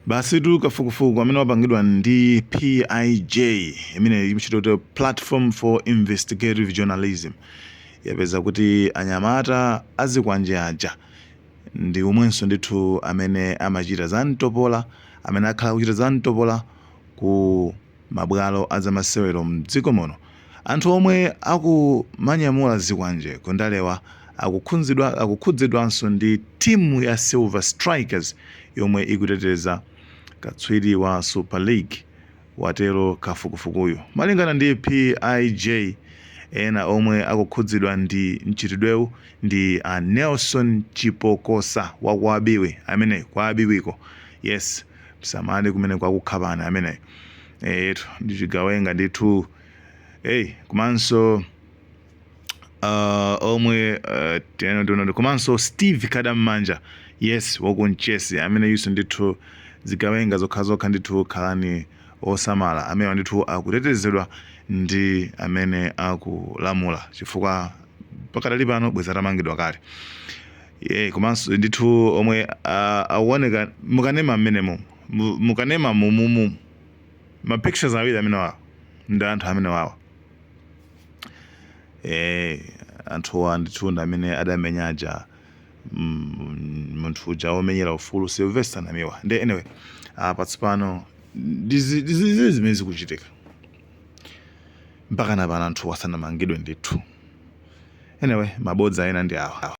Basitu kafukufuku amene wapangidwa ndi PIJ imeneyo imatchedwa kuti Platform for Investigative Journalism yapeza kuti anyamata azikwanje aja ndi omwenso ndithu amene amachita za mtopola amene akhala akuchita za mtopola ku mabwalo a zamasewero mdziko muno anthu omwe akumanyamula zikwanje ku ndalewa akukhudzidwanso ndi timu ya Silver Strikers yomwe ikuteteza katswiri wa Super League watero kafukufukuyu. Malingana ndi PIJ ena omwe akukhudzidwa ndi mchitidwewu ndi a Nelson Chipokosa wa kwa Biwi amene kwa Biwiko yes. msamale kumene kwakukhabani ameneyutu ndichigawenga ndithu eyi komanso uh, omwe uh, tiyeno tionani komanso steve kadam'manja yes wakunchesi ameneyunso ndithu zigawenga zokhazokha ndithu khalani osamala amenewa ndithu akutetezedwa ndi amene akulamula chifukwa pakadali pano bweza atamangidwa kale Eee komanso ndithu omwe akuoneka mukanema mmenemo mukanema mumumu ma pictures awiri amene wawa ndi anthu amene wawa eee anthuwa ndithu ndi amene adamenya aja munthu uja womenyera ufulu Sylvester Namiwa nde anyway apa tsopano ndizi zimene zikuchitika mpaka na pano anthuwa sanamangidwe ndithu. anyway mabodza ena ndi awa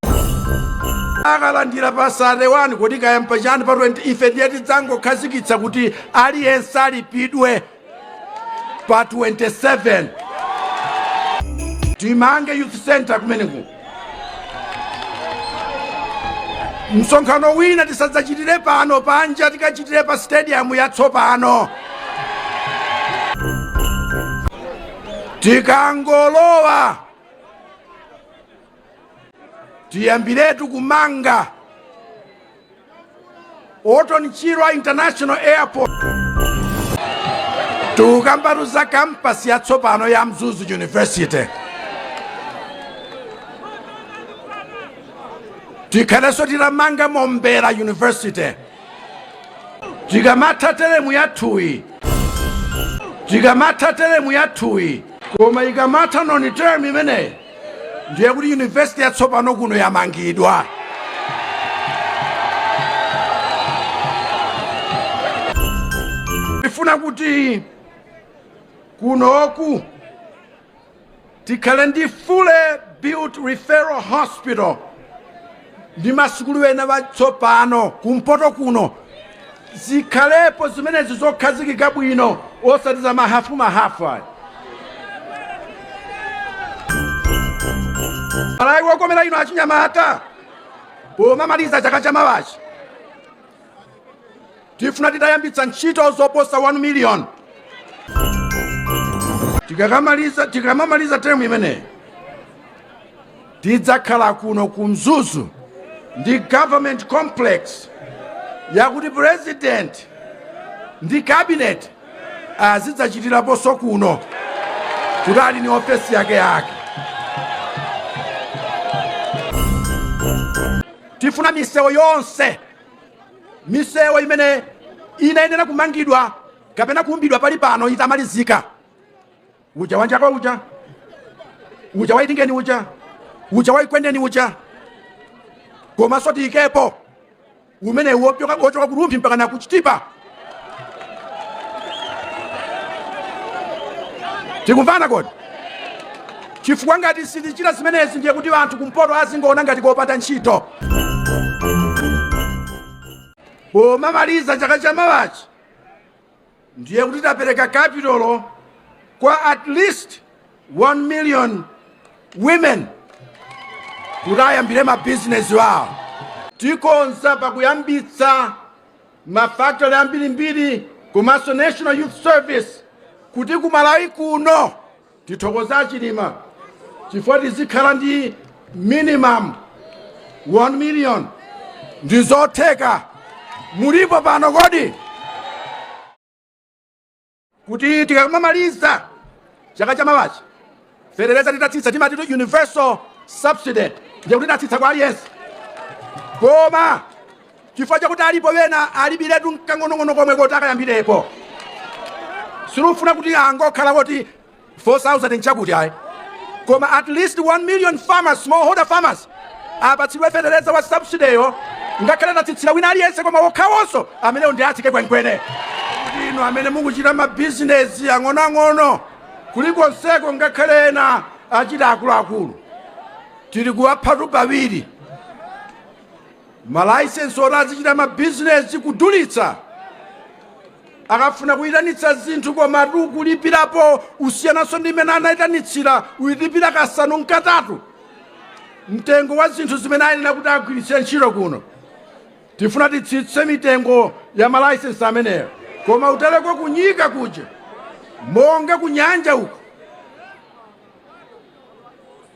akalandira pa 31 kodi kayamba chani pa 20 ife ndiye tidzangokhazikitsa kuti aliyense alipidwe pa 27 timange youth center kumeneku msonkhano wina tisadzachitire pano panja tikachitire pa stadium yatsopano tikangolowa tiyambiretu kumanga Orton Chirwa International Airport tikukambatu za kampasi yatsopano ya Mzuzu University tikhalenso titamanga Mombera University tikamatha term yathuyi ikamatha teremu yathuyi koma ikamatha noni term imeneyo ndiye kuti yunivesiti yatsopano kuno yamangidwa ndifuna kuti kunoku Tikhale ndi fully built referral hospital ndi masukulu ena atsopano kumpoto kuno zikhalepo zimenezi zokhazikika bwino osati za mahafu mahafu ayi Malawi wokomera ino achinyamata pomamaliza chaka cha mawachi Tifuna titayambitsa ntchito zoposa 1 million tikamamaliza term imeneyi tidzakhala kuno ku Mzuzu ndi government complex yakuti president ndi cabinet azidzachitiraponso kuno kuti ali ni ofesi yake yake tifuna misewu yonse misewu imene inayenera kumangidwa kapena kuumbidwa pali pano itamalizika uja wa Njakwa uja uja wa Itingeni uja uja wa Ekwendeni uja komanso tiyikepo umene wochoka ku Rumphi mpaka na ku Chitipa tikumvana kodi chifukwa ngati sitichita zimenezi ndiye kuti anthu kumpoto azingoona ngati kopanda ntchito pomamaliza chaka cha mawachi ndiye kuti tapereka capital kwa at least 1 million women kuti ayambire mabizinesi wawo tikonza pakuyambitsa mafactory ambirimbiri komanso national youth service kuti ku Malawi kuno ndithokoza a Chilima chifukwa tizikhala ndi minimum 1 million ndi zotheka mulipo pano kodi kuti tikamamaliza chaka cha mawachi fetereza titatsitsa timatitu universal subsidy ndiye kuti tatsitsa kwa aliyense koma chifukwa chakuti alipo wena alibiretu nkang'onong'ono komwe koti akayambirepo sitikufuna kuti angokhala kuti 4000 nchakuti ayi koma at least 1 million farmers smallholder farmers apatsidwe fetereza wa subsidy yo ngakhale atatsitsira wina aliyense koma wokhawonso amenewo ndi atsike kwenikweni inu amene mukuchita mabizinesi ang'onoang'ono kulikonseko ngakhale ena achita akuluakulu tili kuwaphatu pawiri malaisensi oti azichita mabizinesi kudulitsa akafuna kuyitanitsa zinthu komatu kulipirapo osayinanso ndi imene anayitanitsira uyilipira kasanu nkatatu mtengo wa zinthu zimene ayenera kuti agwiritse ntchito kuno tifuna titsitse mitengo ya malaisensi ameneyo koma utaleko ku Nyika kuja monga kunyanja uko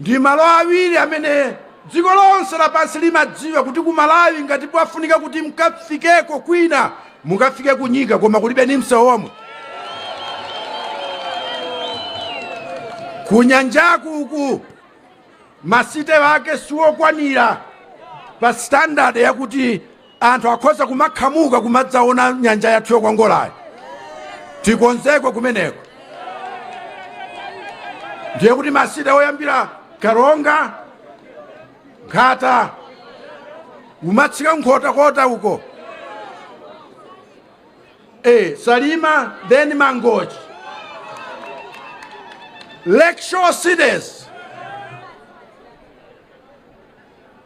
ndi malo awiri amene dziko lonse lapansi limadziwa kuti ku malawi ngati pafunika kuti mkafikeko kwina mukafike ku Nyika koma kulibe ni msewu omwe kunyanja uku masite ake siwokwanira pa standard yakuti Anthu akhoza kumakhamuka kumadzaona nyanja yathu yokongolayi. Tikonzeko kumeneko. Ndiye kuti masite oyambira Karonga, Nkhata, umatsika Nkhotakota uko. Eh, Salima, then Mangochi. Lakeshore cities.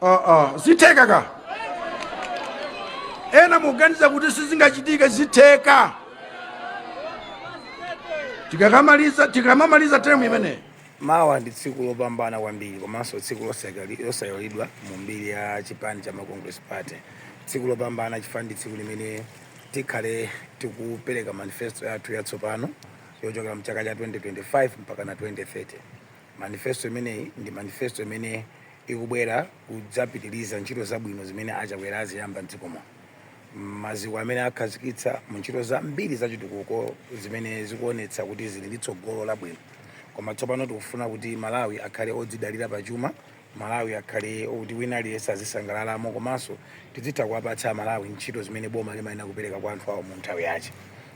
Ah, ah, zitheka ena muganiza kuti sizingachitike zitheka tikamamaliza term imeneyi mawa ndi tsiku lopambana kwambiri komanso tsiku losaiwalidwa mu mbiri ya chipani cha Malawi Congress Party tsiku lopambana chifukwa ndi tsiku limene tikhale tikupereka manifesto yathu yatsopano yochokera mchaka cha 2025 mpaka na 2030 manifesto imeneyi ndi manifesto imene ikubwera kudzapitiliza ntchito zabwino zimene a Chakwera aziyamba m'dziko muno. Maziko amene akhazikitsa mu ntchito zambiri za chitukuko zimene zikuonetsa kuti zili ndi tsogolo labwino. Koma tsopano tikufuna kuti Malawi akhale odzidalira pa chuma, Malawi akhale okuti wina aliyense azisangalalamo komanso tizitha kuwapatsa Amalawi ntchito zimene boma limayenera kupereka kwa anthu awo mu nthawi yache.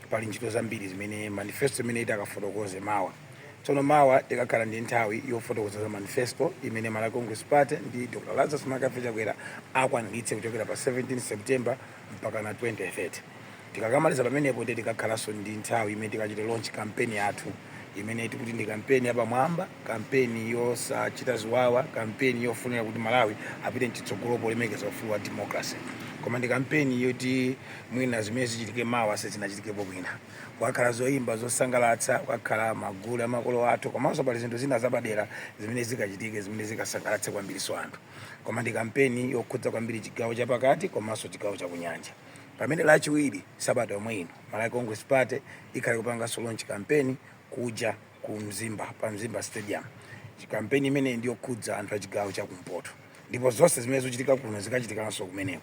Pali ntchito zambiri zimene manifesto imene itakafotokoze mawa Tsono mawa tikakhala ndi nthawi yofotokoza za manifesto imene Malawi Congress Party ndi Dr Lazarus McCarthy Chakwera akwaniritse kuchokera pa 17 September mpakana 2030. Tikakamaliza pamenepo ndiye tikakhalanso ndi nthawi imene tikachite launch kampeni yathu imene tikuti ndi kampeni yapamwamba, kampeni yosachita ziwawa, kampeni yofunira kuti Malawi apite mchitsogolo polemekeza ufulu wa democracy. Koma ndi kampeni yoti mwina zimene zichitike mawa sizinachitikepo mwina. kukakhala zoyimba zosangalatsa kukakhala magule amakolo athu komanso pali zinthu zina zapadera zimene zikachitike zimene zikasangalatse kwambiriso anthu koma ndi kampeni yokhudza kwambiri chigawo chapakati komanso chigawo chakunyanja pamene lachiwiri sabata yomwe ino malawi congress party ikhale kupanganso launch kampeni kuja ku mzimba pa mzimba stadium kampeni imene ndiyokhudza anthu a chigawo chakumpoto ndipo zonse zimene zochitika kuno zikachitikanso kumeneko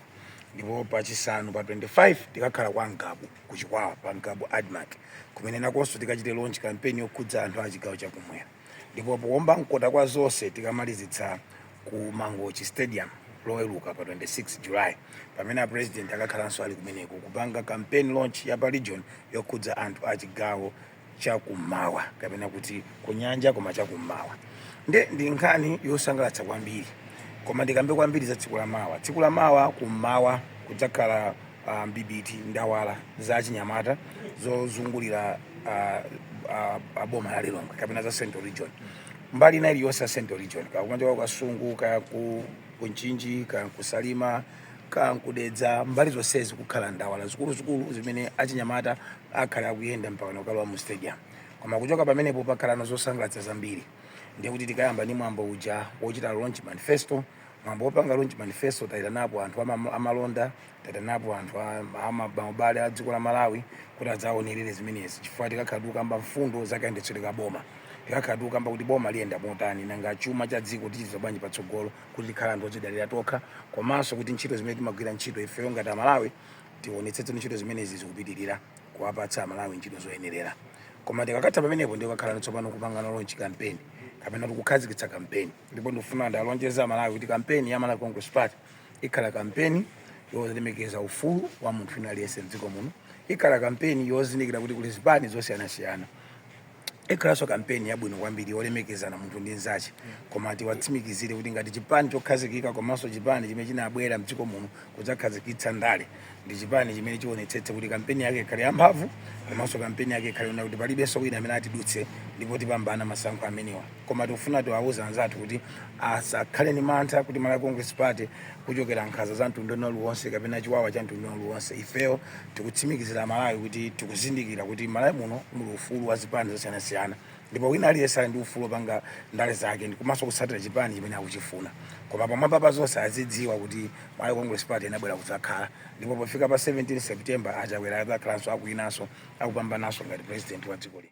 ndipo pachisanu pa 25 tikakhala kwa ngabu ku Chikwawa pa Ngabu Admarc kumene nakonso tikachite launch campaign yokhudza anthu a chigawo chakumwera ndipo powomba mkota kwa zonse tikamalizitsa ku Mangochi Stadium loweruka pa 26 July pamene a president akakhalanso ali kumeneko kupanga campaign launch ya pa region yokhudza anthu a chigawo chakummawa kapena kuti kunyanja koma chakummawa nde ndi nkhani yosangalatsa kwambiri koma ndikambe kwambiri za tsiku la mawa tsiku la mawa kummawa kudzakhala uh, mbibiti ndawala za achinyamata zozungulira uh, uh, boma la lilongwe kapena za central region mbali ina iliyonse ya central region kaya kumachoka ku kasungu kaya ku mchinji kaya ku salima kaya nku dedza mbali zonsezi kukhala ndawala zikuluzikulu zimene achinyamata akhala akuyenda mpaka nakalowa mu stadium koma kuchoka pamenepo pakhalano zosangalatsa zambiri ndiye kuti tikayamba ndi mwambo uja wochita launch manifesto mwambo wopanga launch manifesto tayitanapo anthu ama- amalonda tayitanapo anthu a- ama- maubale a dziko la malawi kuti adzaonerere zimenezi chifukwa tikakhala tikukamba mfundo za kayendetsedwe ka boma tikakhala tikukamba kuti boma liyenda motani nanga chuma cha dziko tichita bwanji patsogolo kuti tikhale anthu odzidalira tokha komanso kuti ntchito zimene timagwira ntchito ifeyo ngati amalawi tionetsetse kuti ntchito zimenezi zikupitirira kuwapatsa amalawi ntchito zoyenerera koma tikakatha pamenepo ndiye kakhala tsopano kupangano launch kampeni kapena kukhazikitsa kampeni ndipo ndikufuna ndiwalonjeze amalawi kuti kampeni ya malawi congress party ikhala kampeni yolemekeza ufulu wa munthu wina aliyense mdziko muno ikhala kampeni yozindikira kuti kuli zipani zosiyanasiyana ikhalanso kampeni yabwino kwambiri yolemekezana munthu ndi mnzache koma tiwatsimikizire kuti ngati chipani chokhazikika komanso chipani chimene chinabwera mdziko muno kudzakhazikitsa ndale ndi chipani chimene chionetsetse kuti kampeni yake ikhale yamphamvu komanso kampeni yake ikhale yona kuti palibenso wina amene atidutse ndipo tipambana masankho amenewa koma tikufuna tiwauze anzathu kuti asakhale ndi mantha kuti Malawi Congress Party kuchokera nkhanza za mtundu wina uliwonse kapena chiwawa cha mtundu wina uliwonse ifeyo tikutsimikizira Malawi kuti tikuzindikira kuti Malawi muno muli ufulu wa zipani zosiyanasiyana ndipo wina aliyense ali ndi ufulu wopanga ndale zake komanso kutsatira chipani chimene akuchifuna koma pamwamba pa zonse azidziwa kuti Malawi Congress Party inabwera kudzakhala ndipo pofika pa 17 September a Chakwera adzakhalanso akuwinanso akupambananso ngati president wa dziko lino